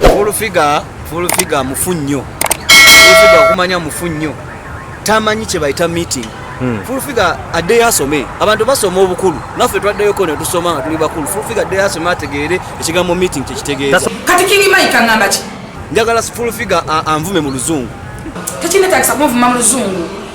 Full figure, full figure mufu nnyo. Full figure okumanya mufu nnyo. Tamanyi kye bayita meeting. Hmm. Full figure adde asome. Abantu basoma obukulu. Naffe twaddeyo ko ne tusoma nga tuli bakulu. Full figure adde asome ategeere ekigambo meeting kye kitegeeza. Kati King Mike angamba ki? Njagala full figure anvume mu luzungu. Tekina takisa kumvuma mu luzungu.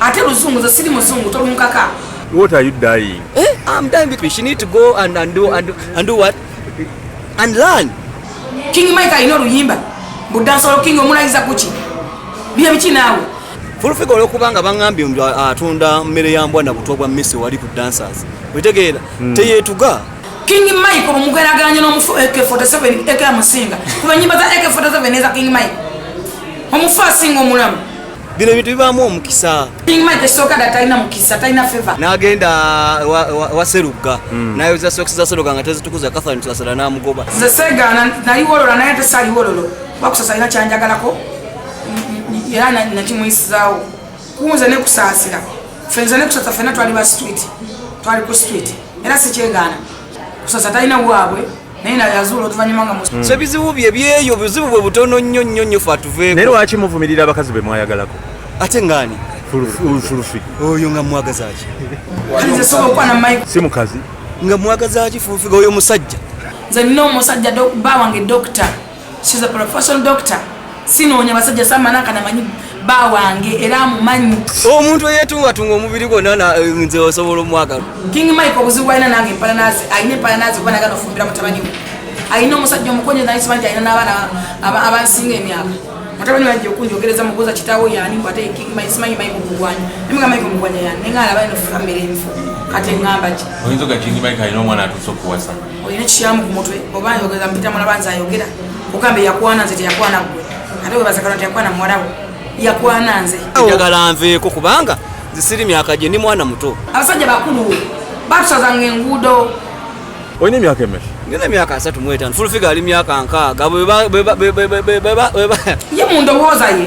Ate luzungu nze siri muzungu tolunkaka. What are you dying? Eh, I'm dying because she need to go and, and do and do, and do what? And learn. King Mike alina oluyimba budansolo king omulayiza kuki bye biki naawe fulufiga olwokuba nga baŋambye mbu atunda mmere ya mbwa na butwa bwa mmisi wali ku dancers wetegeera hmm. teyeetuga king mike omugerageranya n'omufu ak 47 ak amusinga kuba nyimba za ak 47 neza king mike omufu asinga omulamu bino ebintu bibaamu omukisa n'agenda wa serugga hmm. nayoza sokisi za seruga nga tezitukuza kathan tusasala n'amugoba nze segaana nali wolola naye ate saali wololo bakusasa alina kyanjagalako era nakimuyisizaawo kunze nekusaasira fenze nekusasa fena twali ba street twali ku street era sikyegaana kusasa talina waabwe naye na yazuula oluvannyuma nga musu so ebizibu bye byeyo buzibu bwe butono nnyo nnyo nnyo fe atuveeko naye lwaki muvumirira abakazi be mwayagalako ate ngaani fulufi oyo nga mwagazaki si mukazi nga mwagazaki fulufi oyo musajja nze nina omusajja baawange dokita She's a professional doctor. Sinoonya basajja samana kana manyi ba wange era amumanyi. Omuntu eyetunga tunga omubiri gwonna na eh, nze osobola omwagala. King Mike obuzibu alina nange empala nazi alina empala nazi kuba nagana ofumbira mutabani we. Alina omusajja omukonye naye sibangi alina n'abaana abansinga emyaka. Mutabani wange okunjogereza mubuuza kitaawo yaani mbu ate King Mike simanyi Mike omugwanya. Emeka Mike omugwanya yaani nenga alaba eno famire enfu. Kati ngamba ki? Oyinza oga King Mike alina omwana atuuse okuwasa. olina ekikyamu ku mutwe oba ayogeza mpita mulaba nze ayogera ogamba yakwana nze teyakwana gwe ate webazakana teyakwana muwalawo yakwana nze njagala nveeko kubanga zisiri myaka gye ndi mwana muto abasajja bakulu batusazanga enguudo olina emyaka emeka ngina emyaka asatu mwetano fulfiga ali myaka nkaaga bwe mundowooza ye